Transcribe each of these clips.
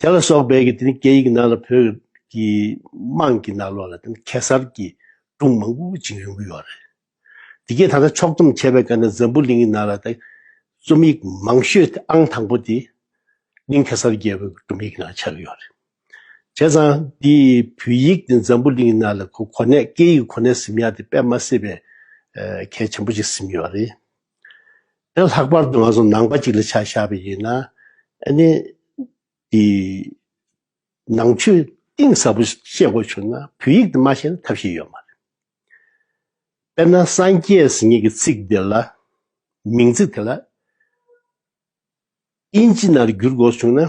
དེ་ལ་སོགས་པའི་དེ་ནི་སྐད་ཡིག་ནང་ལ་བོད་ཀྱི་དམངས་ཀྱི་ནང་ལོགས་ལ་དེ་ནི་གེ་སར་གྱི་སྒྲུང་མང་པོ་བྱིངས་རིང་པོ་ཡོད་རེད། དེ་གའི་ད་ལྟ་ཕྱོགས་བསྡོམས་བྱས་པའི་སྐབས་ནས་འཛམ་བུ་གླིང་གི་ནང་ལ་དེ་རྩོམ་ཡིག་མང་ཤོས་དེ་ཨང་དང་པོ་དེ་གླིང་གེ་སར་རྒྱལ་པོའི་སྒྲུང་ཡིག་ནང་ཆགས་ཡོད་རེད། བྱས་ཙང་དེ་བོད་ཡིག་དེ་འཛམ་བུ་གླིང་གི་ནང་ལ་གོ་གོ་གནས་སྐད་ཡིག་གོ་གནས་ཟིན་མ་ཡང་དེ་དཔེ་མ་སྲིད་པའི་གལ་ཆེན་པོ་ཞིག་ཟིན་ཡོད་རེད། དེ་ལྷག་པར་དུ་ང་ཚོ་ནང་པ་ཅིག་ལ་ཆ་བཞག་པ་ཡིན་ན་ནི་དེ་ནང་ཆོས་གཏིང་ཟབ་པོ་ཤེས་དགོས་བྱུང་ན་བོད་ཡིག་དེ་མ་ཤེས་ན་ཐབས་ཤེས་ཡོད་མ་རེད། དཔེར་ན་སངས་རྒྱས་ཟེར་ངེས་ཀྱི་ཚིག་དེ་ལ་མིང་ཚིག་དེ་ལ་དབྱིན་ཇི་ནང་བསྒྱུར་དགོས་བྱུང་ན་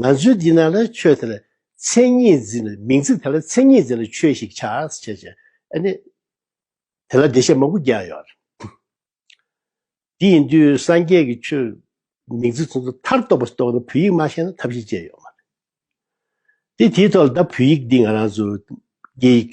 ང་ཚོའི་འདི་ན་ལ་ཆོས་དེ་ལ་མཚན་ཉིད་འཛིན་ལ་མིང་ཚིག་དེ་ལ་མཚན་ཉིད་འཛིན་ལ་ཆོས་ཤིག་ཆགས་སུ་བྱེད་ཅིང་ཨ་ནི། དེ་ལ་བདེ་གཤེགས་མང་པོ་བརྒྱ་ཡོད་རེད། དེ་ཡིན་དུས་སངས་རྒྱས་ཀྱི་ཆོས་མིང་ཚིག་ཚོགས་ཚོགས་མཐར་གཏོགས་པ་རྟོགས་ན་བོད་ཡིག་མ་ཤེས་ན་ཐབས་ཤེས་ཅན་ཡོད་མ་རེད། དེ་དེའི་ཐོག་ལ་ད་བོད་ཡིག་འདི་ང་རང་ཚོ་རྒྱ་ཡིག་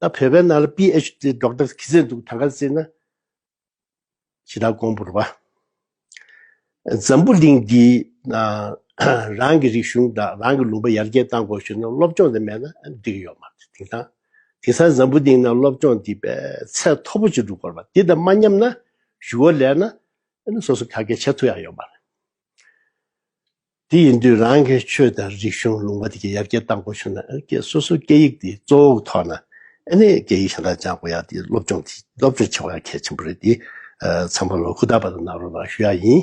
ད་བོད་པའི་ནང་ལ PhD སྒྲོག་ཏར་ཁི་ཟེར་འདུག་ད་ག་ཟེ་ན། ཇི་ལྟར་དགོངས་བོར་བ། འཛམ་བུ་གླིང་འདིའི་ནང་རང་གི་རིག་གཞུང་དང་རང་གི་ལུང་པ་ཡར་རྒྱས་བཏང་དགོས་ཞུས་ན་སློབ་སྦྱོང་དེ་མེད་ན་འགྲིག་གི་ཡོད་མ་རེད་དེང་སང། དེང་སང་འཛམ་བུ་གླིང་ནང་སློབ་སྦྱོང་འདི་བས་ཚད་མཐོ་པོ་ཅིག་འགྲོ་དགོས་པ་འདི་དང་མ་མཉམ་ན་ཞུ་བ་ལས་ན། ཨ་ནི་སོ་སོ་ག་གེ་བྱེད་ཐུབ་ཡག་ཡོད་མ་རེད། དེ་ཡིན་དུས་རང་གི་ཆོས་དང་རིག་གཞུང་ལུང་པ་དེ་གའི་ཡར་རྒྱས་གཏང་དགོས་བྱུང་ན་སོ་སོའི་སྐད་ཡིག་དེ་གཙོ་བོ་ཐོག་ན་ཨེ་ནས་སྐད་ཡིག་གཞན་དག་སྦྱང་དགོས་ཡ་དེ་སློབ་སྦྱོང་དེ་སློབ་སྦྱོང་བྱེད་དགོས་ཡ་གལ་ཆེན་པོ་རེད་དེ་ཚང་མ་ལོ་ཁུག་རྟག་པ་དང་ནང་རོགས་ལ་ཞུ་ཡ་ཡིན།